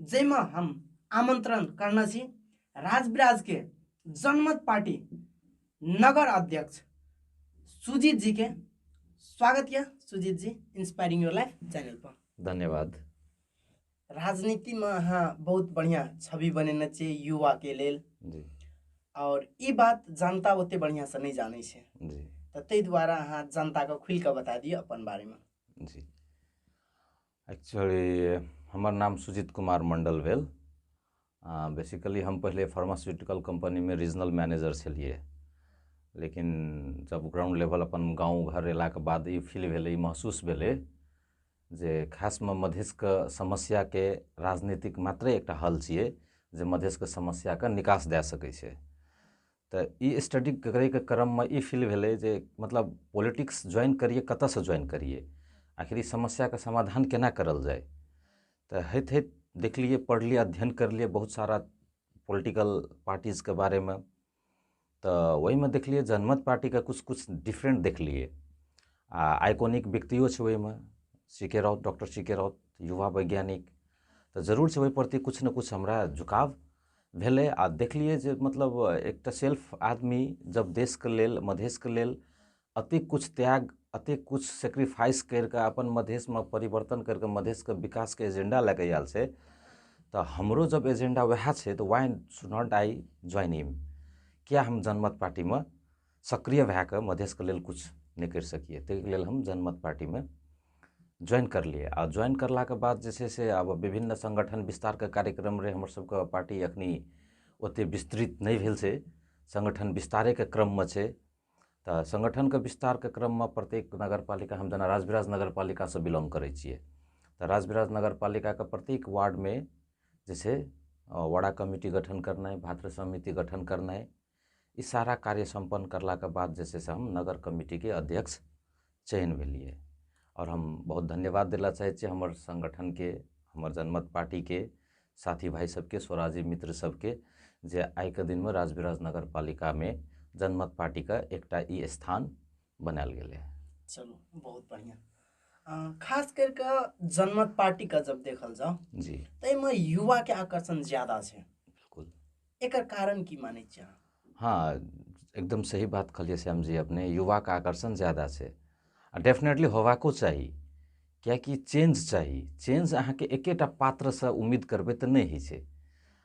जाहिमे हम आमंत्रण करने छी राजविराज के जनमत पार्टी नगर अध्यक्ष सुजीत जी के स्वागत यऽ Sujeet ji inspiring your life channel पर धन्यवाद राजनीति में अहाँ बहुत बढ़िया छवि बनेने छियै युवा के लेल जी और ई बात जनता ओते बढ़िया से नहीं जाने छै जी तऽ ताहि दुआरे अहाँ जनता के खुल के बता दिअ अपन बारे में जी एक्चुअली हमर नाम सुजीत कुमार मण्डल भेल आ बेसिकली हम पहिले फार्मास्यूटिकल कम्पनीमे रीजनल मैनेजर छलियै लेकिन जब ग्राउंड लेवल अपन गाँव घर अयलाके बाद ई फील भेलै ई महसूस भेलै जे खासमे मधेशके समस्याके राजनीतिक मात्रे एकटा हल छियै जे मधेशके समस्याके निकास दए सकै छै तऽ ई स्टडी करैके क्रममे ई फील भेलै जे मतलब पॉलिटिक्स ज्वाइन करिए कतऽसे ज्वाइन करिए आखिर ई समस्याके समाधान कोना करल जाए तऽ होइत होइत देखलिए पढ़लिए अध्ययन करलिए बहुत सारा पॉलिटिकल पार्टीजके बारेमे तऽ ओहिमे देखलिए जनमत पार्टीके किछु किछु डिफरेन्ट देखलिए आओर आइकॉनिक व्यक्तिओ छै ओहिमे C K Raut doctor C K Raut युवा वैज्ञानिक तऽ जरूर छै ओहि प्रति किछु ने किछु हमरा झुकाव भेलै आ देखलियै जे मतलब एकटा सेल्फ आदमी जब देशके लेल मधेशके लेल अतेक किछु त्याग अतेक किछु सेक्रीफाइस करि कऽ अपन मधेशमे परिवर्तन करि कऽ मधेशके विकासके एजेंडा लए कऽ आयल छै तऽ हमरो जब एजेंडा उएह छै तऽ why should not I join him किए हम जनमत पार्टीमे सक्रिय भए कऽ मधेशके लेल किछु नहि करि सकियै ताहिके लेल हम जनमत पार्टीमे ज्वाइन करलियै आ ज्वाइन करलाके बाद जे छै से आब बिभिन्न संगठन बिस्तारके कार्यक्रम रहै हमर सबके पार्टी अखनी ओते बिस्तृत नहि भेल छै संगठन बिस्तारेके क्रममे छै तऽ संगठनके बिस्तारके क्रममे प्रत्येक नगर पालिका हम जेना राजविराज नगर पालिका सऽ बिलोंग करै छियै तऽ राजविराज नगर पालिकाके प्रत्येक वार्डमे जे छै वडा कमिटी गठन करनाइ भातृ समिति गठन करनाइ ई सारा कार्य सम्पन्न करलाके बाद जे छै से हम नगर कमिटीके अध्यक्ष चयन भेलिए आओर हम बहुत धन्यवाद दैलए चाहै छी हमर सङ्गठनके हमर जनमत पार्टीके साथी भाइ सभके स्वराजी मित्र सभके जे आइके दिनमे राजविराज नगर पालिकामे जनमत पार्टीके एकटा ई स्थान बनाएल गेलै चलू बहुत बढ़िआँ अँ, खास करि कऽ जनमत पार्टीके जब देखल जाउ जी ताहिमे युवाके आकर्षण ज्यादा छै बिलकुल एकर कारण की मानै छी अहाँ हाँ एकदम सही बात कहलियै श्याम जी अपने युवाके आकर्षण ज्यादा छै आ डेफिनेटली होबाको चाही किएकि चेंज चाही चेंज अहाँके एकेटा पात्रसँ उम्मीद करबै तऽ नहि होइ छै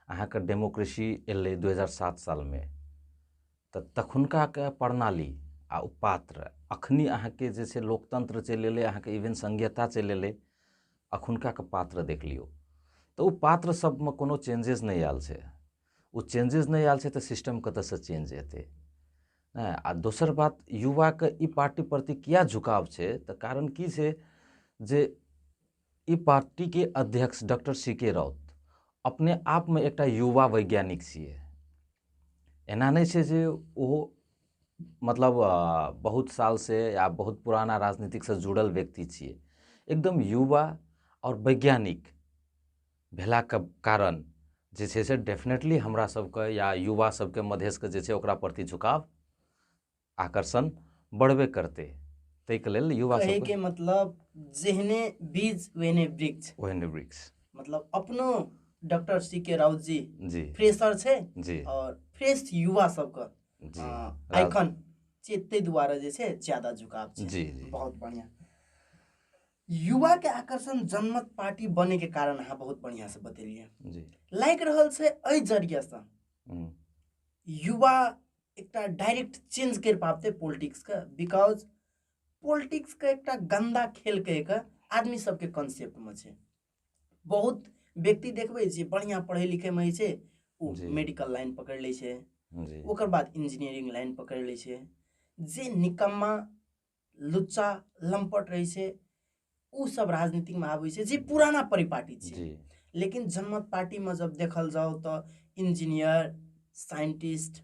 अहाँके डेमोक्रेसी एलै दू हजार सात सालमे तऽ तखुनकाके प्रणाली आ ओ पात्र अखनी अहाँके जे छै लोकतंत्र चलि एलै अहाँके इवन संघीयता चलि एलै अखुनका के पात्र देख लियौ तऽ ओ पात्र सबमे कोनो चेंजेस नहि आयल छै ओ चेंजेस नहि आयल छै तऽ सिस्टम कतऽ सऽ चेंज हेतै हँ आ दोसर बात युवा के ई पार्टी प्रति किए झुकाव छै तऽ कारण की छै जे ई पार्टी के अध्यक्ष डॉक्टर सी के राउत अपने आपमे एकटा युवा वैज्ञानिक छियै एना नहि छै जे ओहो मतलब बहुत साल से या बहुत पुराना राजनीतिक से जुड़ल व्यक्ति छियै एकदम युवा आओर वैज्ञानिक भेलाके कारण जे छै से डेफिनेटली हमरा सबके या युवा सबके मधेशके जे छै ओकरा प्रति झुकाव आकर्षण बढ़बे करतै ताहिके लेल युवा सबके मतलब जेहने बीज ओहने वृक्ष ओहने वृक्ष मतलब अपनो doctor C K Raut ji ji fresher छै जी और फ्रेश युवा सबके जी आइकन से ताहि दुआरे जे छै ज्यादा झुकाव छै जी जी बहुत बढ़िया युवा के आकर्षण जनमत पार्टी बने के कारण अहाँ बहुत बढ़िया से बतेलिए जी लागि रहल छै एहि जरिया से हम्म। युवा एकटा डायरेक्ट चेंज कर पाबते पॉलिटिक्स के बिकॉज पॉलिटिक्स के एकटा गंदा खेल कह के आदमी सबके कंसेप्ट में छै बहुत व्यक्ति देखबै जे बढ़िआँ पढ़ै लिखैमे जे छै ओ जी। मेडिकल लाइन पकड़ि लै छै जी ओकर बाद इंजीनियरिंग लाइन पकड़ि लै छै जे निकम्मा लुच्चा लम्पट रहै छै ओ सब राजनीतिकमे आबै छै जे पुराना परिपाटी छै जी लेकिन जनमत पार्टीमे जब देखल जाओ तऽ इंजीनियर साइंटिस्ट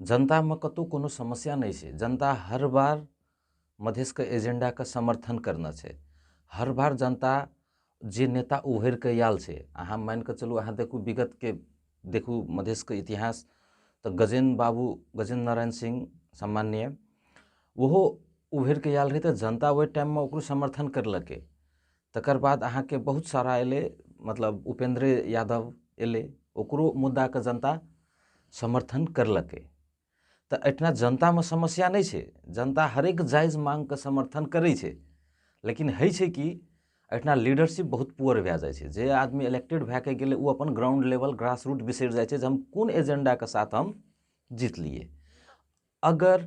जनतामे कतहु कोनो समस्या नहि छै जनता हर बार मधेशके एजेण्डाके समर्थन करने छै हर बार जनता जे नेता उभरिके आयल छै अहाँ मानि कऽ चलू अहाँ देखू विगतके देखू मधेशके इतिहास तऽ गजेन्द्र बाबू गजेन्द्र नारायण सिंह सामान्य ओहो उभरिके आयल रहै तऽ जनता ओहि टाइममे ओकरो समर्थन करलकै तकर बाद अहाँके बहुत सारा एलै मतलब उपेन्द्र यादव एलै ओकरो मुद्दाके जनता समर्थन करलकै तऽ एहिठिना जनतामे समस्या नहि छै जनता हरेक जायज मांगके समर्थन करै छै लेकिन होइ छै कि एहिठिना लीडरशिप बहुत पुअर भए जाइ छै जे आदमी इलेक्टेड भए कऽ गेलै ओ अपन ग्राउंड लेवल ग्रास रूट बिसरि जाइ छै जे हम कोन एजेंडाके साथ हम जीतलियै अगर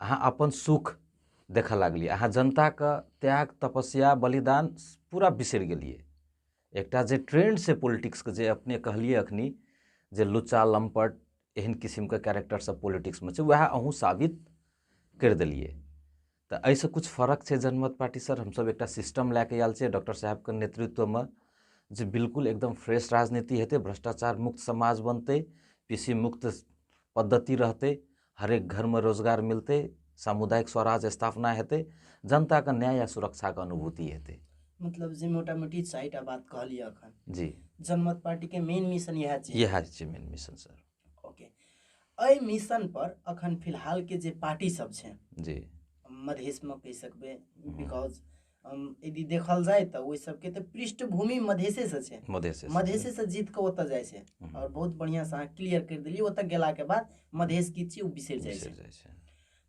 अहाँ अपन सुख देखऽ लागलियै अहाँ जनताके त्याग तपस्या बलिदान पूरा बिसरि गेलियै एकटा जे ट्रेंड छै पॉलिटिक्सके जे अपने कहलियै अखनी जे लुच्चा लम्पट एहन किसिमके कैरेक्टर सब पॉलिटिक्समे छै वएह अहूँ साबित करि देलियै तऽ एहिसँ किछु फर्क छै जनमत पार्टी सर हमसब एकटा सिस्टम लए कऽ आयल छियै डॉक्टर साहेबके नेतृत्वमे जे बिल्कुल एकदम फ्रेश राजनीति हेतै भ्रष्टाचार मुक्त समाज बनतै पीसी मुक्त पद्धति रहतै हरेक घरमे रोजगार मिलतै सामुदायिक स्वराज स्थापना हेतै जनताके न्याय आ सुरक्षाके अनुभूति हेतै मतलब जे मोटा मोटी चारिटा बात कहलियै अखन जी जनमत पार्टीके मेन मिशन इएह छै इएह छै मेन मिशन सर ओके एहि मिशन पर अखन फिलहाल के जे पार्टी सब छै जी मधेश मे कहि सकबै बिकॉज यदि देखल जाए तऽ ओहि सबके तऽ पृष्ठभूमि मधेसेसँ छै मधेसे मधेसेसँ जीत कऽ ओतऽ जाइ छै हम्म। आओर बहुत बढ़िआँसँ अहाँ क्लियर करि देलियै ओतऽ गेलाके बाद मधेश की छियै ओ बिसरि जाइ छै जाइ छै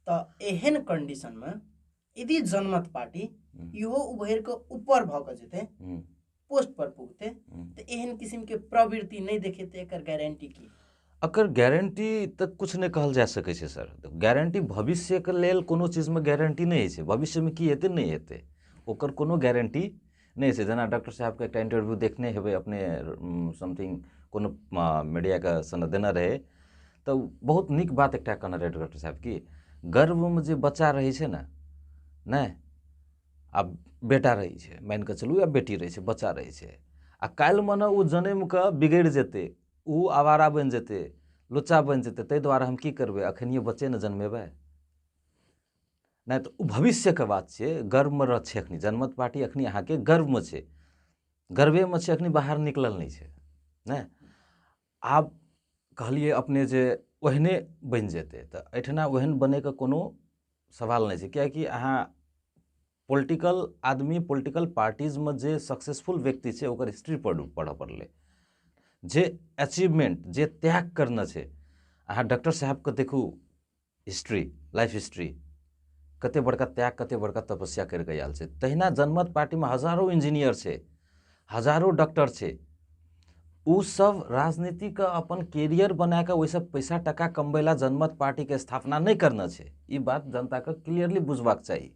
तऽ एहन कन्डिशनमे यदि जनमत पार्टी हम्म। इहो उभरि कऽ ऊपर भऽ कऽ जेतै हम्म। पोस्ट पर पुगते हम्म। तऽ एहन किसिम के प्रवृत्ति नहि देखेतै एकर गारंटी की एकर गारंटी तऽ कुछ नहि कहल जा सकै छै सर गारंटी भविष्यके लेल कोनो चीजमे गारंटी नहि होइ छै भविष्यमे की हेतै नहि हेतै ओकर कोनो गारंटी नहि छै जेना डॉक्टर साहबके एकटा इंटरव्यू देखने हेबै अपने समथिंग कोनो मीडियाके सनद देने रहै तऽ बहुत नीक बात एकटा कहने रहै डॉक्टर साहब कि गर्भमे जे बच्चा रहै छै ने नहि आ बेटा रहै छै मानि कऽ चलू या बेटी रहै छै बच्चा रहै छै आ काल्हि मने ओ जनम कऽ बिगड़ि जेतै ओ आवारा बनि जेतै लुच्चा बनि जेतै ताहि दुआरे हम की करबै अखनिए बच्चे ने जनमेबै नहि तऽ ओ भविष्यके बात छै गर्वमे रह छै एखन जनमत पार्टी एखन अहाँके गर्वमे छै गर्वेमे छै एखन बाहर निकलल नहि छै नहि आब कहलियै अपने जे ओहने बनि जेतै तऽ एहिठिना ओहन बनैके कोनो सवाल नहि छै किएकि अहाँ पोलिटिकल आदमी पोलिटिकल पार्टीजमे जे सक्सेसफुल व्यक्ति छै ओकर हिस्ट्री पढ़ू पढ़ऽ पड़लै जे अचीवमेंट जे त्याग करने छै अहाँ डॉक्टर साहेबके देखू हिस्ट्री लाइफ हिस्ट्री कते बड़का त्याग कते बड़का तपस्या करके आयल छै तहिना जनमत पार्टीमे हजारों इंजीनियर छै हजारों डॉक्टर छै ओ सब राजनीति के अपन कैरियर बना कऽ ओहिसँ पैसा टाका कमबै लए जनमत पार्टीके स्थापना नहि करना छै ई बात जनताके क्लियरली बुझबाक चाही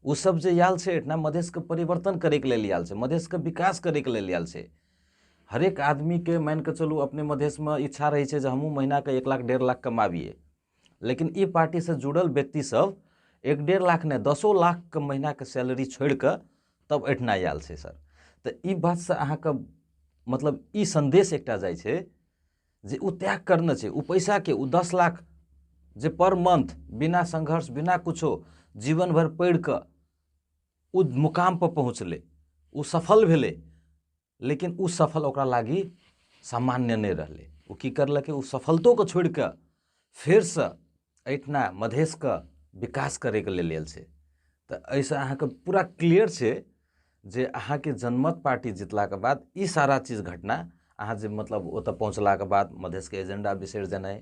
ओ सब जे आयल छै एहिठाम मधेशके परिवर्तन करैके लेल आयल छै मधेशके विकास करैके लेल आयल छै हरेक आदमीके मानिके चलू अपने मधेशमे इच्छा रहै छै जे हमहूँ महिनाके एक लाख डेढ़ लाख कमाबिए लेकिन ई पार्टीसँ जुड़ल व्यक्तिसभ एक डेढ़ लाख नहि दसो लाखके महिनाके सैलरी छोड़िकऽ तब एहिठिना आएल छै सर तऽ ई बातसँ अहाँके मतलब ई सन्देश एकटा जाइ छै जे ओ त्याग करने छै ओ पैसाके ओ दस लाख जे पर मंथ बिना संघर्ष बिना किछो जीवन भरि पढ़िकऽ ओ मुकाम पर पहुँचलै ओ सफल भेलै लेकिन ओ सफल ओकरा लागी सामान्य नहि रहलै ओ की करलकै ओ सफलतोके छोड़ि कऽ फेरसँ एहिठिना मधेशके विकास करैके लेल आयल छै तऽ एहिसँ अहाँके पूरा क्लियर छै जे अहाँके जनमत पार्टी जितलाके बाद ई सारा चीज घटना अहाँ जे मतलब ओतऽ पहुँचलाके बाद मधेशके एजेंडा बिसरि जेनाइ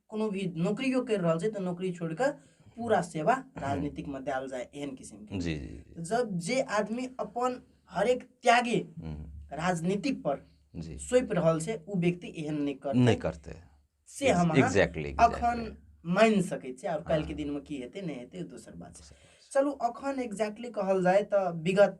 कोनो भी नौकरियो करि रहल छै तऽ नौकरी छोड़ि कऽ पूरा सेवा राजनीतिकमे देल जाय एहन किसिमके जी जी जब जे आदमी अपन हरेक त्यागे हम्म, राजनीतिक पर जी सोपि रहल छै ओ व्यक्ति एहन नहि कर नहि करतै से हम अहाँ एग्जैक्टली अखन मानि सकैत छी आओर काल्हिके दिनमे की हेतै नहि हेतै ओ दोसर बात छै चलू अखन एग्जैक्टली कहल जाय तऽ विगत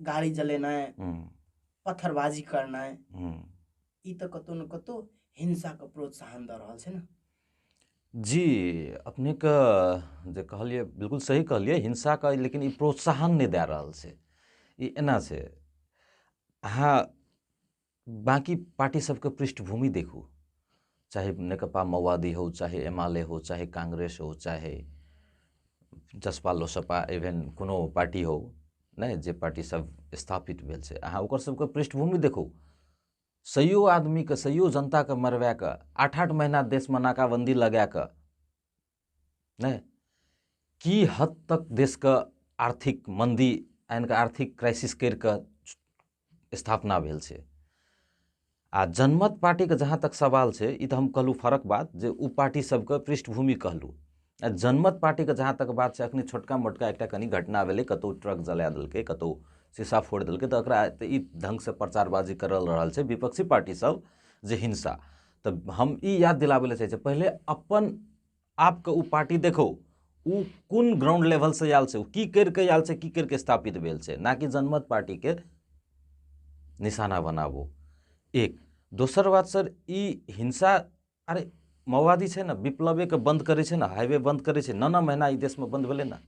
गाड़ी जलेनाइ पत्थरबाजी करनाइ ई तऽ कतौ ने कतौ हिंसाके प्रोत्साहन दऽ रहल छै ने जी अपनेके जे कहलियै बिल्कुल सही कहलियै हिंसाके लेकिन ई प्रोत्साहन नहि दए रहल छै ई एना छै अहाँ बाँकी पार्टी सबके पृष्ठभूमि देखू चाहे नेकपा माओवादी हो चाहे एमाले हो चाहे काङ्ग्रेस हो चाहे जसपा लोसपा इभेन कोनो पार्टी हो नहि जे पार्टी सब स्थापित भेल छै अहाँ ओकर सबके पृष्ठभूमि देखू सैयो आदमीके सैयो जनताके मरबा कऽ आठ आठ महीना देशमे नाकाबन्दी लगा कऽ नहि की हद तक देशके आर्थिक मन्दी यानि कि आर्थिक क्राइसिस करि कऽ स्थापना भेल छै आ जनमत पार्टीके जहाँ तक सवाल छै ई तऽ हम कहलहुँ फरक बात जे ओ पार्टी सबके पृष्ठभूमि कहलहुँ आ जनमत पार्टीके जहाँ तक बात छै अखनी छोटका मोटका एकटा कनि घटना भेलै कतौ ट्रक जला देलकै कतौ शीशा फोड़ि देलकै तऽ ओकरा तऽ ई ढङ्गसँ प्रचारबाजी करल रहल छै विपक्षी पार्टी सब जे हिंसा तऽ हम ई याद दिलाबै लए चाहै छी पहिले अपन आपके ओ पार्टी देखो ओ कोन ग्राउंड लेवलसँ आयल छै ओ की करि कऽ आयल छै की करि कऽ स्थापित भेल छै ना कि जनमत पार्टीके निशाना बनाबू एक दोसर बात सर ई हिंसा अरे माओवादी छै ने विप्लवेके बन्द करै छै ने हाइवे बन्द करै छै नओ नओ महीना ई देशमे बन्द भेलै ने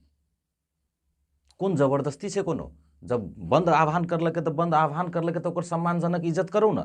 कोन जबरदस्ती छै कोनो जब बन्द आह्वान करलकै तऽ बन्द आह्वान करलकै तऽ ओकर सम्मानजनक इज्जत करू ने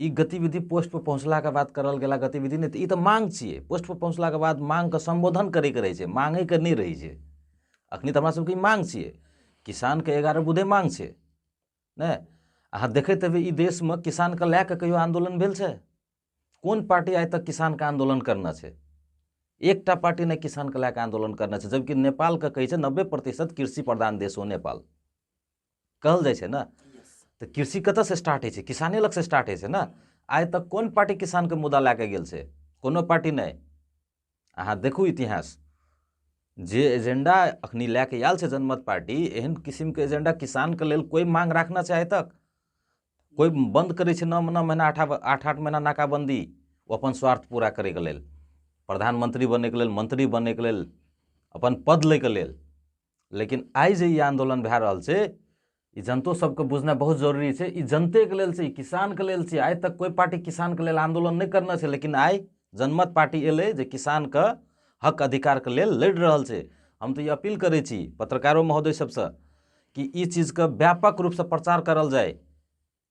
ई गतिविधि पोस्ट पर पहुँचलाक बाद करल गेला गतिविधि नहि तऽ ई तऽ मांग छियै पोस्ट पर पहुँचलाक बाद मांगके सम्बोधन करैके रहै छै मांगैके नहि रहै छै अखनी तऽ हमरा सबके ई मांग छियै किसानके एगारह बुधे मांग छै नहि अहाँ देखैत हेबै ई देशमे किसानके लए कऽ कहियो आन्दोलन भेल छै कोन पार्टी आइ तक किसानके आन्दोलन करना छै एकटा पार्टी नहि किसानके लए कऽ आन्दोलन करना छै जबकि नेपालके कहै छै नब्बे प्रतिशत कृषि प्रधान देश हो नेपाल कहल जाइ छै ने तऽ कृषि कतऽसँ स्टार्ट होइ छै किसाने लगसँ स्टार्ट होइ छै ने आइ तक कोन पार्टी किसानके मुद्दा लए कऽ गेल छै कोनो पार्टी नहि अहाँ देखू इतिहास जे एजेंडा अखनी लए कऽ आयल छै जनमत पार्टी एहन किसिमके एजेंडा किसानके लेल कोइ मांग राखना छै आइ तक कोइ बन्द करै छै नओ नओ महीना आठ आठ आठ महीना नाकाबंदी ओ अपन स्वार्थ पूरा करैके लेल प्रधानमंत्री बनैके लेल मंत्री बनैके लेल अपन पद लैके लेल लेकिन आइ जे ई आन्दोलन भए रहल छै ई जनतो सबके बुझनाइ बहुत जरूरी छै ई जनतेके लेल छै ई किसानके लेल छै आइ तक कोइ पार्टी किसानके लेल आन्दोलन नहि करने छै लेकिन आइ जनमत पार्टी एलै जे किसानके हक अधिकारके लेल लड़ि रहल छै हम तऽ ई अपील करै छी पत्रकारो महोदय सबसँ कि ई चीजके व्यापक रूपसँ प्रचार करल जाय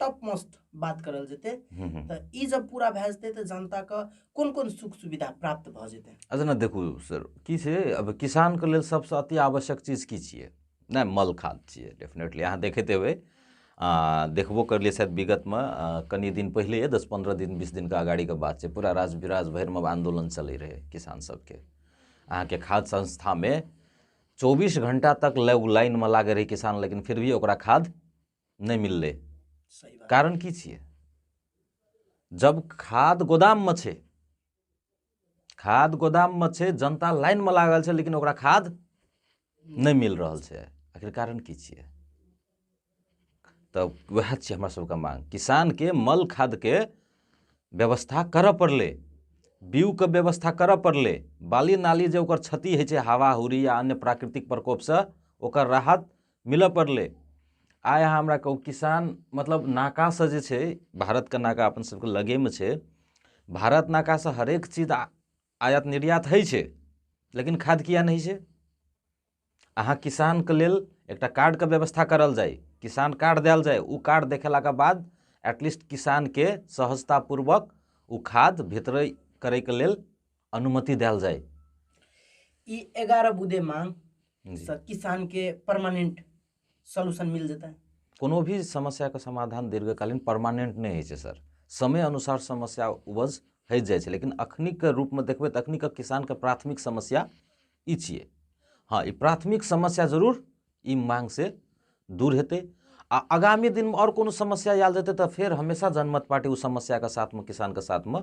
टप मोस्ट बात करल जेतै तऽ ई जब पूरा भए जेतै तऽ जनताके कोन कोन सुख सुविधा प्राप्त भऽ जेतै अच्छा ने देखू सर की छै अब किसानके लेल सबसँ अति आवश्यक चीज की छियै नहि मल खाद छियै डेफिनेटली अहाँ देखैत हेबै आ देखबो करलियै शायद विगतमे कनि दिन पहिले दस पन्द्रह दिन बीस दिनके अगाड़ीके बात छै पूरा राज विराज भरिमे आन्दोलन चलै रहै किसान सबके अहाँके खाद संस्थामे चौबीस घंटा तक लाइनमे लागै रहै किसान लेकिन फिर भी ओकरा खाद नहि मिललै कारण की छियै जब खाद गोदाममे छै खाद गोदाममे छै जनता लाइनमे लागल छै लेकिन ओकरा खाद नहि मिल रहल छै आखिर कारण की छियै तऽ वएह छै हमरा सबके मांग किसानके मल खादके व्यवस्था करऽ पड़लै बीउके व्यवस्था करऽ पड़लै बाली नाली जे ओकर क्षति होइ छै हवा हुरी या अन्य प्राकृतिक प्रकोपसँ ओकर राहत मिलऽ पड़लै आइ अहाँ हमरा कहू किसान मतलब नाकासँ जे छै भारतके नाका अपन सबके लगेमे छै भारत नाकासँ हरेक चीज आयात निर्यात होइ छै लेकिन खाद किया नहि छै अहाँ किसानके लेल एकटा कार्डके व्यवस्था करल जाय किसान कार्ड देल जाय ओ कार्ड देखेलाके बाद एटलीस्ट किसानके सहजतापूर्वक ओ खाद वितरण करैके लेल अनुमति देल जाए ई एगारह बुदे मांग से किसान के परमानेंट सोल्यूशन मिल जेतै कोनो भी समस्या के समाधान दीर्घकालीन परमानेंट नहि होइ छै सर समय अनुसार समस्या उपज होइ जाइ छै लेकिन अखनिक रूपमे देखबै तऽ अखनिक किसानके प्राथमिक समस्या ई छियै हँ ई प्राथमिक समस्या जरूर ई मांग से दूर हेतै आ आगामी दिनमे आओर कोनो समस्या आयल जेतै तऽ फेर हमेशा जनमत पार्टी ओ समस्याके साथमे किसानके साथमे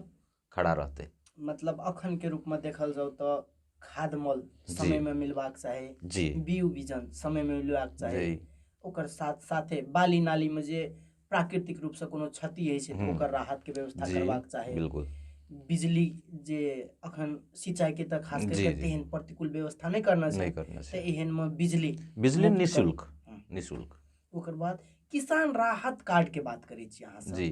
खड़ा रहतै मतलब अखन के रूप में देखल जाओ तो खाद मल समय में मिलवाक चाही जी बीउ बीजन समय में मिलवाक चाही ओकर साथ साथे बाली नाली में जे प्राकृतिक रूप से कोनो क्षति है छै हम्म। ओकर राहत के व्यवस्था करवाक चाही बिल्कुल बिजली जे अखन सिंचाई के तक खास करके तेहन प्रतिकूल व्यवस्था नहीं करना छै नहीं करना छै एहन में बिजली बिजली निशुल्क हम्म। निशुल्क ओकर बाद किसान राहत कार्ड के बात करै छी अहाँ जी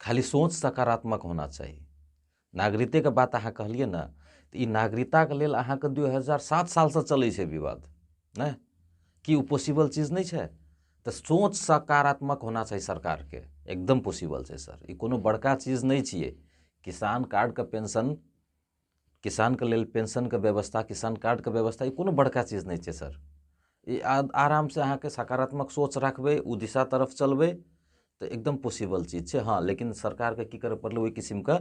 खाली सोच सकारात्मक होना चाही नागरिकताके बात अहाँ कहलियै ने तऽ ई नागरिकताके लेल अहाँके दू हजार सात सालसँ चलै छै विवाद नहि कि ओ पॉसिबल चीज नहि छै तऽ सोच सकारात्मक होना चाही सरकारके एकदम पॉसिबल छै सर ई कोनो बड़का चीज नहि छियै किसान कार्डके पेंशन किसानके लेल पेंशनके व्यवस्था किसान कार्डके व्यवस्था ई कोनो बड़का चीज नहि छै सर ई आरामसँ अहाँके सकारात्मक सोच रखबै ओ दिशा तरफ चलबै तऽ एकदम पॉसिबल चीज छै हँ लेकिन सरकारके की करय पड़लै ओहि किसिमके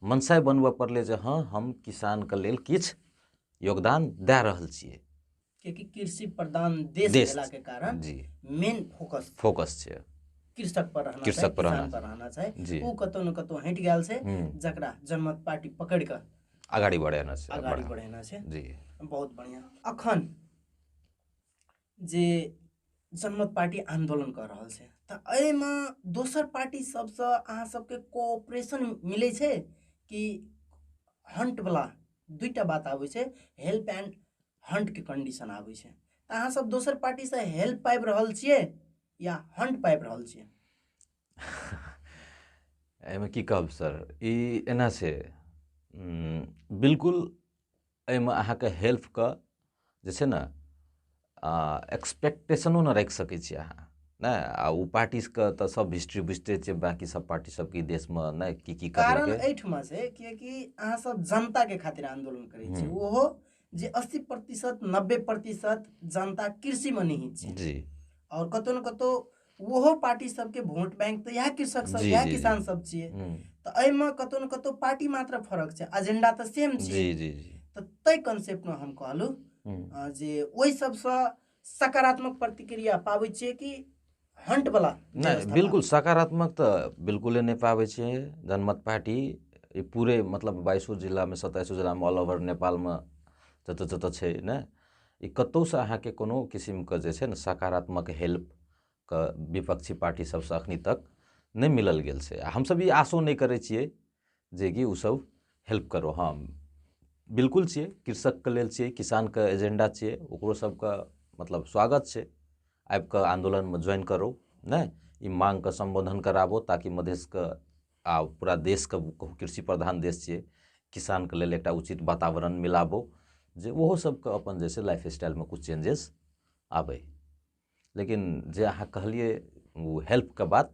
मनसाय बनबय पड़लै जे हँ हम किसानके लेल किछु योगदान दए रहल छियै कियाकि कृषि प्रधान देश देश। भेला के कारण जी मेन फोकस फोकस छै कृषक पर रहना कृषक चाही, पर रहना किसान पर रहना चाही जी। ओ कतौ न कतौ हटि गेल छै हम्म, जकरा जनमत पार्टी पकड़ कऽ अगाडि बढेना छै अगाडि बढा- बढ़ेना छै जी बहुत बढ़िया अखन जे जनमत पार्टी आंदोलन कऽ रहल छै तऽ एहिमे दोसर पार्टी सबसँ अहाँ सबके कोऑपरेशन मिलै छै कि हंट वाला दुईटा बात आबै छै हेल्प एंड हंटके कंडीशन आबै छै तऽ अहाँसभ दोसर पार्टीसँ हेल्प पाबि रहल छियै या हंट पाबि रहल छियै एहिमे की कहब सर ई एना छै बिलकुल एहिमे अहाँके हेल्पके जे छै ने एक्सपेक्टेशनो नहि राखि सकै छी अहाँ नहि आ ओ पार्टीके तऽ सब हिस्ट्री बुझते छै बाकी सब पार्टी सबके देशमे नहि की की कारण एहिठमा छै किएकि अहाँ सब जनताके खातिर आन्दोलन करै छी हम्म। ओहो जे अस्सी प्रतिशत नब्बे प्रतिशत जनता कृषिमे निहित छै जी आओर कतौ ने कतौ ओहो पार्टी सबके वोट बैंक तऽ इएह कृषक सब जी, इएह जी, जी। किसान सब छियै हम्म, तऽ एहिमे कतौ ने कतौ पार्टी मात्र फरक छै एजेंडा तऽ सेम छै जी जी जी तऽ ताहि कॉन्सेप्टमे हम कहलहुँ हम्म, अ, जे ओहि सबसँ सकारात्मक प्रतिक्रिया पाबै छियै कि हन्टवला नहि बिल्कुल सकारात्मक तऽ बिल्कुले नहि पाबै छै जनमत पार्टी ई पूरे मतलब बाइसो जिलामे सत्ताइसो जिलामे ऑल ओवर नेपालमे जतऽ जतऽ छै ने ई कतहुसँ अहाँके कोनो किसिमके जे छै ने सकारात्मक हेल्पके विपक्षी पार्टी सबसँ एखन तक नहि मिलल गेल छै आओर हमसभ ई आशो नहि करै छिए जेकि ओसब हेल्प करो हँ बिलकुल छिए कृषकके लेल छिए किसानके एजेण्डा छिए ओकरो सभके मतलब स्वागत छै आबिके आन्दोलनमे ज्वाइन करो नहि ई माँगके सम्बोधन कराबो ताकि मधेसके आओर पूरा देसके कृषि प्रधान देस छिए किसानके लेल एकटा उचित वातावरण मिलाबो जे ओहो सभके अपन जे छै लाइफ स्टाइलमे किछु चेन्जेस आबै लेकिन जे अहाँ कहलिए ओ हेल्पके बात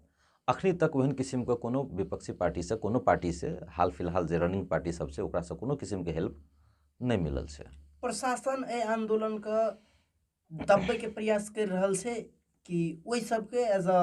एखन तक ओहन किसिमके कोनो विपक्षी पार्टीसँ कोनो पार्टीसँ हाल फिलहाल जे रनिङ्ग पार्टीसब छै ओकरासँ कोनो किसिमके हेल्प नहि मिलल छै प्रशासन एहि आन्दोलनके दबबैके प्रयास करि रहल छै कि ओहि सबके एज अ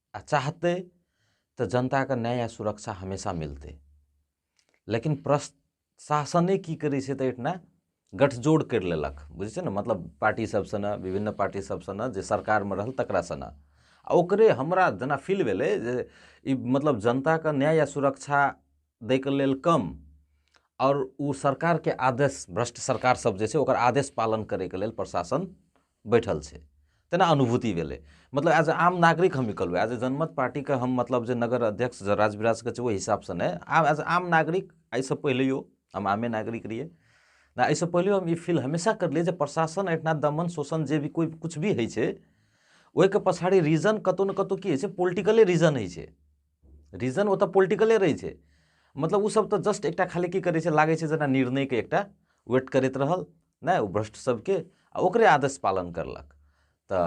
आ चाहतै तऽ जनताके न्याय आ सुरक्षा हमेशा मिलतै लेकिन प्रशासने की करै छै तऽ एहिठिना गठजोड़ करि लेलक बुझै छै ने मतलब पार्टी सब सङ्गे विभिन्न पार्टी सब सङ्गे जे सरकारमे रहल तकरा सङ्गे आ ओकरे हमरा जेना फील भेलै जे ई मतलब जनताके न्याय आ सुरक्षा दैके लेल कम आओर ओ सरकारके आदेश भ्रष्ट सरकार सब जे छै ओकर आदेश पालन करैके लेल प्रशासन बैठल छै तेना अनुभूति भेलै मतलब एज ए आम नागरिक हम ई कहलहुँ एज ए जनमत पार्टीके हम मतलब जे नगर अध्यक्ष राजविराजके छै ओहि हिसाबसँ नहि आब एज आम नागरिक एहिसँ पहिलैयो हम आमे नागरिक रहियै ना एहिसँ पहिलैयो हम ई फील हमेशा करलियै जे प्रशासन एहिठिना दमन शोषण जे भी कोइ किछु भी होइ छै ओहिके पछाड़ी रीजन कतौ ने कतौ की होइ छै पोलिटिकले रीजन होइ छै रीजन ओतऽ पोलिटिकले रहै छै मतलब ओसभ तऽ जस्ट एकटा खाली की करै छै लागै छै जेना निर्णयके एकटा वेट करैत रहल नहि ओ भ्रष्ट सबके आ ओकरे आदेश पालन करलक तऽ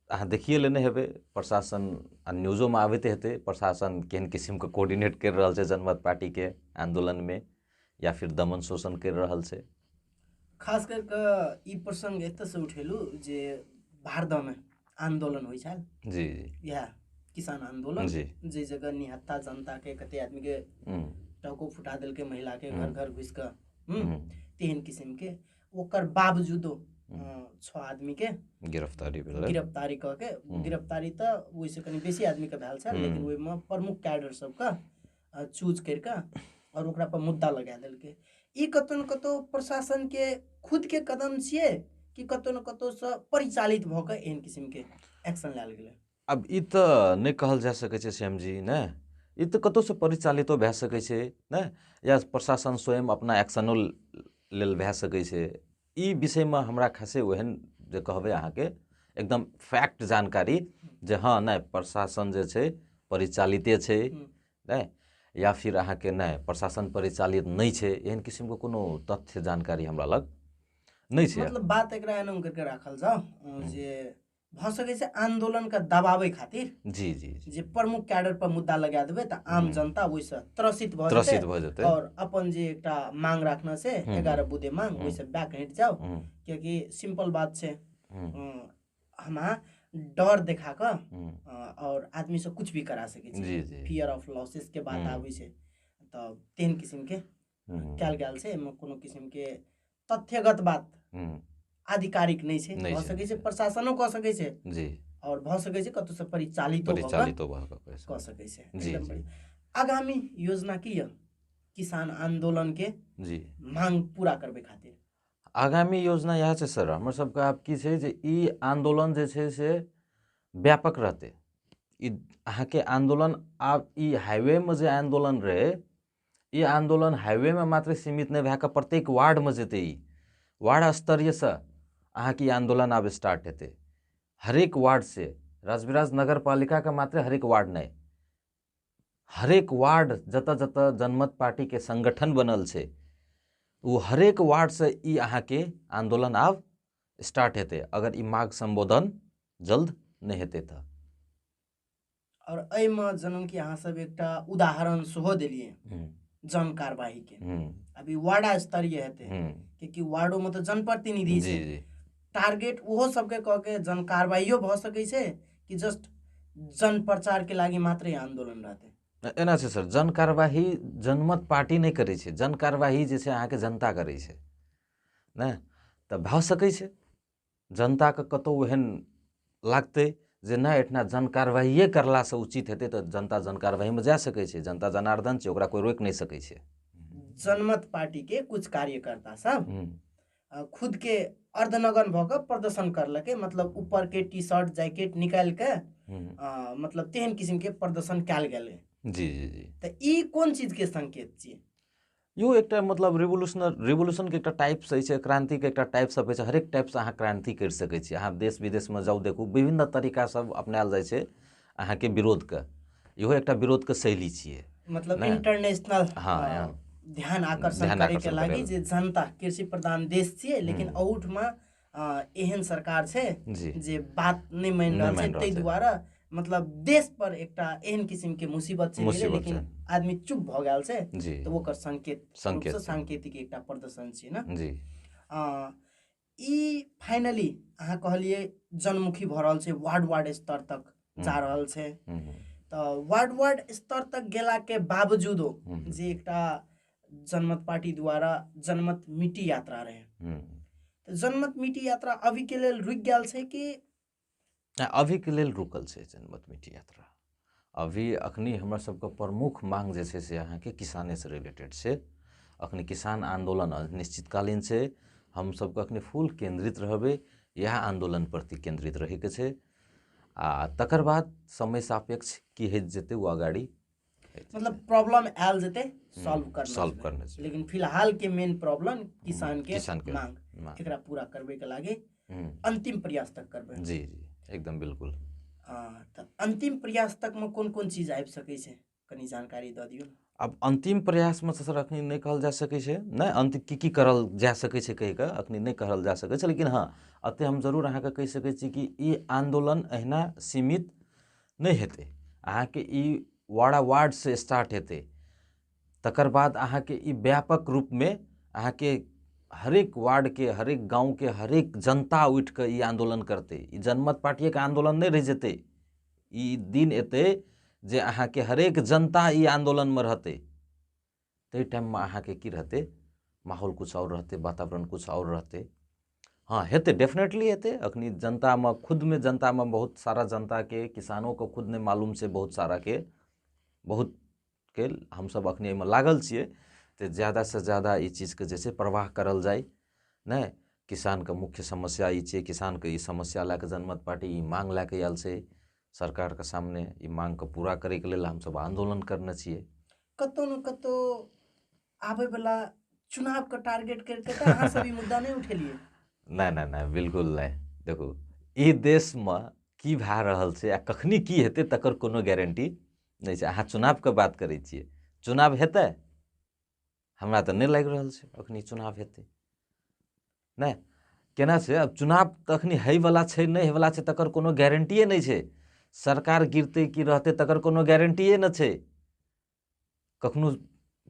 अहाँ देखिए लेने हेबै प्रशासन आ न्यूजोमे आबैत हेतै प्रशासन केहन किसिमके कोर्डिनेट करि रहल छै जनमत पार्टीके आन्दोलनमे या फिर दमन शोषण करि रहल छै खास करि कऽ ई प्रसङ्ग एतऽसँ उठेलहुँ जे भारदामे आन्दोलन होइ छल जी जी इएह किसान आन्दोलन जी। जे जगह निहत्ता जनता के कते आदमी के हम्म, टको फुटा देलकै महिला के घर घर घुसि कऽ हम्म, हम्म, तेहन किसिम के ओकर बावजूदो अ, छओ आदमी के गिरफ्तारी भेल रहै। गिरफ्तारी कऽ के गिरफ्तारी तऽ ओहिसँ कनि बेसी आदमी के भेल छल लेकिन ओहिमे प्रमुख कैडर सबके चूज करि कऽ आओर ओकरा पर मुद्दा लगा देलकै ई कतौ ने कतौ प्रशासन के खुद के कदम छियै कि कतौ ने कतौ से परिचालित भऽ कऽ एहन किसिम के एक्शन लायल गेलै आब ई तऽ नहि कहल जा सकै छै श्याम जी ने ई तऽ कतौ से परिचालितो भए सकै छै ने या प्रशासन स्वयं अपना एक्शनो लेल भए सकै छै ई विषयमे हमरा खासे ओहन जे कहबै अहाँके एकदम फैक्ट जानकारी जे हँ नहि प्रशासन जे छै परिचालिते छै नहि या फिर अहाँके नहि प्रशासन परिचालित नहि छै एहन किसिमके कोनो तथ्य जानकारी हमरा लग नहि छै मतलब बात एकरा एना करके राखल जाओ जे भऽ सकै छै आन्दोलनके दबाबै खातिर जी जी जी जे प्रमुख कैडर पर मुद्दा लगा देबै तऽ आम हम्म। जनता ओहिसँ त्रसित भऽ त्रसित जेतै भऽ जेतै और अपन जे एकटा मांग राखने छै हम्म। एगारह बुधे मांग हम्म। ओहिसँ बैक हटि जाउ हम्म, कियाकि सिंपल बात छै हम्म, अं, हम अहाँ डर देखा कऽ हम्म, अं, और आदमी से कुछ भी करा सकै छी जी जी फियर ऑफ लॉसेस के बात हम्म। आबै छै तऽ तेहन किसिम के कयल गेल छै एहिमे कोनो किसिमके तथ्यगत बात आधिकारिक नहि छै भऽ सकैत छै प्रशासनो कऽ सकैत छै जी आओर भऽ सकैत छै कतहुसँ परिचालितो परिचालितो कऽ सकैत छै जी आगामी योजना की यऽ किसान आन्दोलनके जी मांग पूरा करबै खातिर आगामी योजना इएह छै सर हमर सबके आब की छै जे ई आन्दोलन जे छै से व्यापक रहतै ई अहाँके आन्दोलन आब ई हाइवेमे जे आन्दोलन रहै ई आन्दोलन हाइवेमे मात्र सीमित नहि भए कऽ प्रत्येक वार्डमे जेतै ई वार्ड स्तरीयसँ अहाँके ई आन्दोलन आब स्टार्ट हेतै हरेक वार्डसँ राजविराज नगर पालिकाके मात्र हरेक वार्ड नहि हरेक वार्ड जतऽ जतऽ जनमत पार्टीके संगठन बनल छै ओ हरेक वार्डसँ ई अहाँके आन्दोलन आब स्टार्ट हेतै अगर ई माघ सम्बोधन जल्द नहि हेतै तऽ आओर एहिमे जनम कि अहाँसभ एकटा उदाहरण सेहो देलियै जन कारवाहीके अभी वार्ड स्तरीय हेतै कियाकि वार्डोमे तऽ जनप्रतिनिधि छै टारगेट ओहो सबके कऽ के जन कारवाइयो भऽ सकै छै कि जस्ट जन प्रचारके लागि मात्रै आन्दोलन रहतै एना छै सर जन कारवाही जनमत पार्टी नहि करै छै जन कारवाही जे छै अहाँके जनता करै छै ने तऽ भऽ सकै छै जनताके कतौ एहन लागतै जे नहि एहिठिना जनकारबाहिए करलासँ उचित हेतै तऽ जनता जनकारबाहीमे जा सकै छै जनता जनार्दन छै ओकरा कोइ रोकि नहि सकै छै जनमत पार्टीके कुछ कार्यकर्ता सब खुदके अर्धनगन भऽ कऽ प्रदर्शन करलकै मतलब ऊपरके टी शर्ट जैकेट निकालि कऽ मतलब तेहन किसिमके प्रदर्शन कयल गेलै जी जी जी तऽ ई कोन चीजके संकेत छियै यो एकटा मतलब रिवोल्यूशनर रिवोल्यूशनके एकटा टाइप्स अछि क्रान्तिके एकटा टाइप्स अछि हरेक टाइप्स अहाँ क्रान्ति करि सकै छी अहाँ देश विदेशमे जाउ देखू विभिन्न तरीका सब अपनायल जाइ छै अहाँके विरोधके इहो एकटा विरोधके शैली छियै मतलब इंटरनेशनल हाँ ध्यान आकर्षण करैके लागि जे जनता कृषि प्रधान देश छियै लेकिन अहूठमा एहन सरकार छै जे बात नहि मानि रहल छै ताहि दुआरे मतलब देश पर एकटा एहन किसिम के मुसीबत छै लेकिन आदमी चुप भऽ गेल छै तऽ ओकर संकेत संकेत सांकेतिक एकटा प्रदर्शन छै ने जी ई फाइनली अहाँ कहलिए जनमुखी भऽ रहल छै वार्ड वार्ड स्तर तक जा रहल छै तऽ वार्ड वार्ड स्तर तक गेला के बावजूदो जे एकटा जनमत पार्टी द्वारा जनमत मिट्टी यात्रा रहे हम्म। तो जनमत मिट्टी यात्रा अभी के लिए रुक गया से कि अभी के लिए रुकल से जनमत मिट्टी यात्रा अभी अखनी हमरा सबके प्रमुख मांग जे छै से अहाँके किसाने से रिलेटेड छै अखनी किसान आंदोलन अनिश्चितकालीन छै हम सबके अखनी फुल केंद्रित रहबे इएह आंदोलन प्रति केंद्रित रहैके छै आ तकर बाद समय सापेक्ष की होइत जेतै ओ अगाड़ी मतलब प्रॉब्लम आयल जेतै सॉल्व हम्म, करना सॉल्व करना चाहिए लेकिन फिलहाल के मेन प्रॉब्लम किसान के किसान के मांग मांग। एकरा पूरा करबे के लागे हम्म, अंतिम प्रयास तक करबे जी जी एकदम बिल्कुल हाँ, तऽ अंतिम प्रयास तक में कोन कोन चीज आबि सकै छै कनी जानकारी दऽ दियौ आब अन्तिम प्रयासमे तऽ सर अखनी नहि कहल जा सकै छै नहि अन्त की की करल जा सकै छै कहि कऽ अखनी नहि कहल जा सकै छै लेकिन हँ एते हम जरूर अहाँके कहि सकै छी कि ई आन्दोलन अहिना सीमित नहि हेतै अहाँके ई वाड़ा वार्डसँ स्टार्ट हेतै तकर बाद अहाँके ई व्यापक रूपमे अहाँके हरेक वार्डके हरेक गाँवके हरेक जनता उठि कऽ ई आन्दोलन करतै ई जनमत पार्टिएके आन्दोलन नहि रहि जेतै ई दिन एतै जे अहाँके हरेक जनता ई आन्दोलनमे रहतै ताहि टाइममे अहाँके की रहतै माहौल किछु आओर रहतै वातावरण किछु आओर रहतै हँ हेतै डेफिनेटली हेतै अखनी जनतामे खुदमे जनतामे बहुत सारा जनताके किसानोके खुद नहि मालूम छै बहुत साराके बहुतके हमसभ अखनी एहिमे लागल छियै तऽ जादासँ जादा ई चीजके जे छै प्रवाह करल जाइ नहि किसानके मुख्य समस्या ई छै किसानके ई समस्या लए कऽ जनमत पार्टी ई माँग लए कऽ आयल छै सरकारके सामने ई माँगके पूरा करैके लेल हमसभ आन्दोलन करने छियै कतौ ने कतौ आबै वाला चुनाव के टारगेट करके तऽ अहाँ सब ई मुद्दा नहि उठेलिए नहि नहि नहि बिल्कुल नहि देखू ई देश मे की भए रहल छै आ कखनी की हेतै तकर कोनो गारंटी नहि छै अहाँ चुनाव के बात करै छियै चुनाव हेतै हमरा तऽ नहि लागि रहल छै अखनी चुनाव हेतै नहि केना छै आब चुनाव तखनी होइवला छै नहि होइवला छै तकर कोनो गारंटिए नहि छै सरकार गिरतै कि रहतै तकर कोनो गारंटिए नहि छै कखनो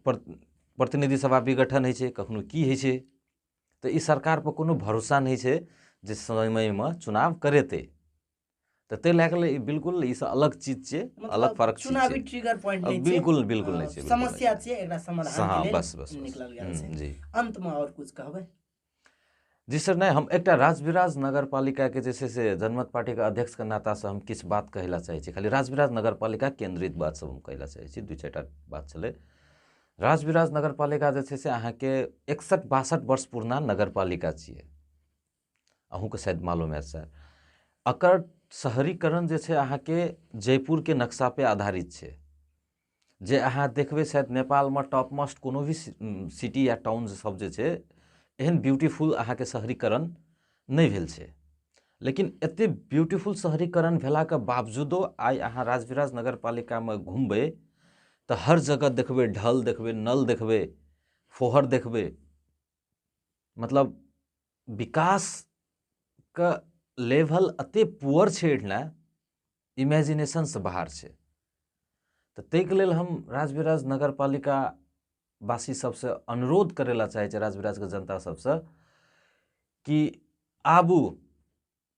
प्रतिनिधि सभा विघटन होइ छै कखनो की होइ छै तऽ ई सरकारपर कोनो भरोसा नहि छै जे समयमे चुनाव करेतै तऽ ताहि लए कऽ ई बिल्कुल ई सब अलग चीज छै मतलब अलग फर्क चीज चुनावी छै ट्रिगर पॉइंट नहि छै बिल्कुल बिल्कुल नहि छै बिल्कुल नहि समस्या छै एकरा हाँ, समाधान के लेल बस, बस, बस। निकलल गेल हम्म, छै जी अंत में और कुछ कहबै जी सर नहि हम एकटा राजविराज नगरपालिकाके जे छै से जनमत पार्टीके अध्यक्षके नातासँ हम किछु बात कहै लए चाहै छी खाली राजविराज नगरपालिका केन्द्रित बात सब हम कहै लए चाहै छी दू चारि टा बात छलै राजविराज नगरपालिका जे छै से अहाँके एकसठ बासठ वर्ष पुरना नगरपालिका छियै अहूँके शायद मालूम है सर एकर शहरीकरण जे छै अहाँके जयपुरके नक्शापर आधारित छै जे अहाँ देखबै शायद नेपालमे टॉप मोस्ट कोनो भी सिटी या टाउन सब जे छै एहन ब्यूटीफुल अहाँके शहरीकरण नहि भेल छै लेकिन एतेक ब्यूटीफुल शहरीकरण भेलाके बावजूदो आइ अहाँ राजविराज नगर पालिकामे घुमबै तऽ हर जगह देखबै ढल देखबै नल देखबै फोहर देखबै मतलब विकासके लेवल एते पुअर छै एहिठिना इमेजिनेशनसँ बाहर छै तऽ ताहिके लेल हम राजविराज नगर पालिका वासी सबसँ अनुरोध करै लए चाहै छी राजविराजके जनता सबसँ कि आबू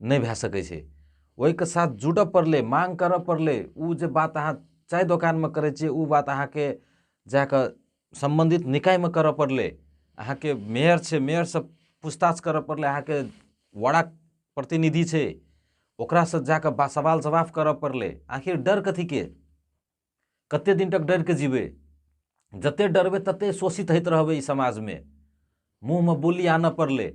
नहि भए सकै छै ओहिके साथ जुटऽ पड़लै माँग करऽ पड़लै ओ जे बात अहाँ चाय दोकानमे करै छियै ओ बात अहाँके जा कऽ सम्बन्धित निकायमे करऽ पड़लै अहाँके मेयर छै मेयरसँ पूछताछ करऽ पड़लै अहाँके वडाक प्रतिनिधि छै ओकरासँ जा कऽ सवाल जवाब करऽ पड़लै आखिर डर कथीके कते दिन तक डर के जीवे जते डरबे तते शोषित होइत रहबे ई समाज में मुंह में बोली आना पड़ले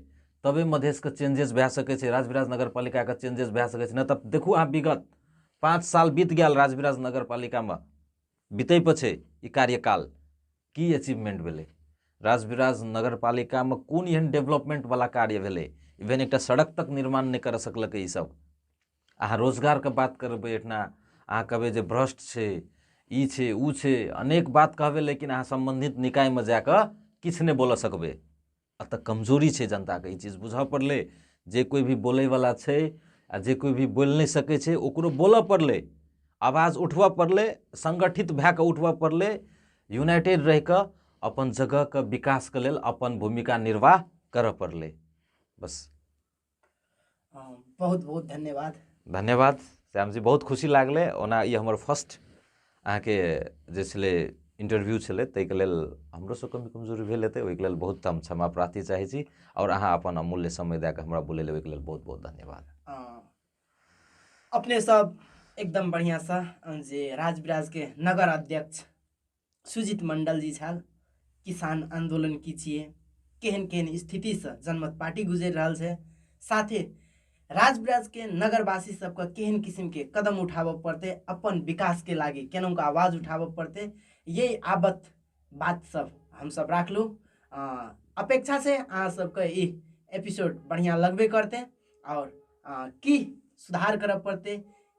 तबे मधेश के चेंजेस भए सके छै राजविराज नगर पालिका के चेंजेस भए सके छै न तब देखू अहाँ विगत पाँच साल बीत गया राजविराज नगर पालिका में बीते पर छै ई कार्यकाल की अचीवमेंट भेलै राजविराज नगर पालिका में कोन एहन डेवलपमेंट वाला कार्य भेलै इवेन एकटा सड़क तक निर्माण नहि कर सकलकै ई सब अहाँ रोजगारके बात करबै एहिठिना अहाँ कहबै जे भ्रष्ट छै ई छै ओ छै अनेक बात कहबै लेकिन अहाँ सम्बन्धित निकायमे जा कऽ किछु नहि बोलऽ सकबै एतऽ कमजोरी छै जनताके ई चीज बुझऽ पड़लै जे कोइ भी बोलैवला छै आ जे कोइ भी बोलि नहि सकै छै ओकरो बोलऽ पड़लै आवाज उठबऽ पड़लै संगठित भए कऽ उठबऽ पड़लै यूनाइटेड रहि कऽ अपन जगहके विकासके लेल अपन भूमिका निर्वाह करऽ पड़लै बस अम, बहुत बहुत धन्यवाद धन्यवाद श्यामजी बहुत खुशी लागलै ओना ई हमर फर्स्ट अहाँके जे छलै इंटरव्यू छलै ताहिके लेल हमरोसँ कमी कमजोरी भेल हेतै ओहिके लेल बहुत हम क्षमा प्रार्थी चाहै छी आओर अहाँ अपन अमूल्य समय दए कऽ हमरा बोलै लेल ओहिके लेल बहुत बहुत धन्यवाद अम, अपने सब एकदम बढ़िआँसँ अम, जे राजविराजके नगर अध्यक्ष सुजित मण्डल जी छल किसान आन्दोलन की छियै केहन केहन स्थितिसँ जनमत पार्टी गुजरि रहल छै साथे राजब्राजके नगरवासी सबके केहन किसिमके कदम उठाबऽ पड़तै अपन विकासके लागि केनाहुँ आवाज उठाबऽ पड़तै यही आबत बात सब हमसब राखलहुँ अपेक्षा छै अहाँ सबके ई एपिसोड बढ़िआँ लगबे करतै आओर की सुधार करऽ पड़तै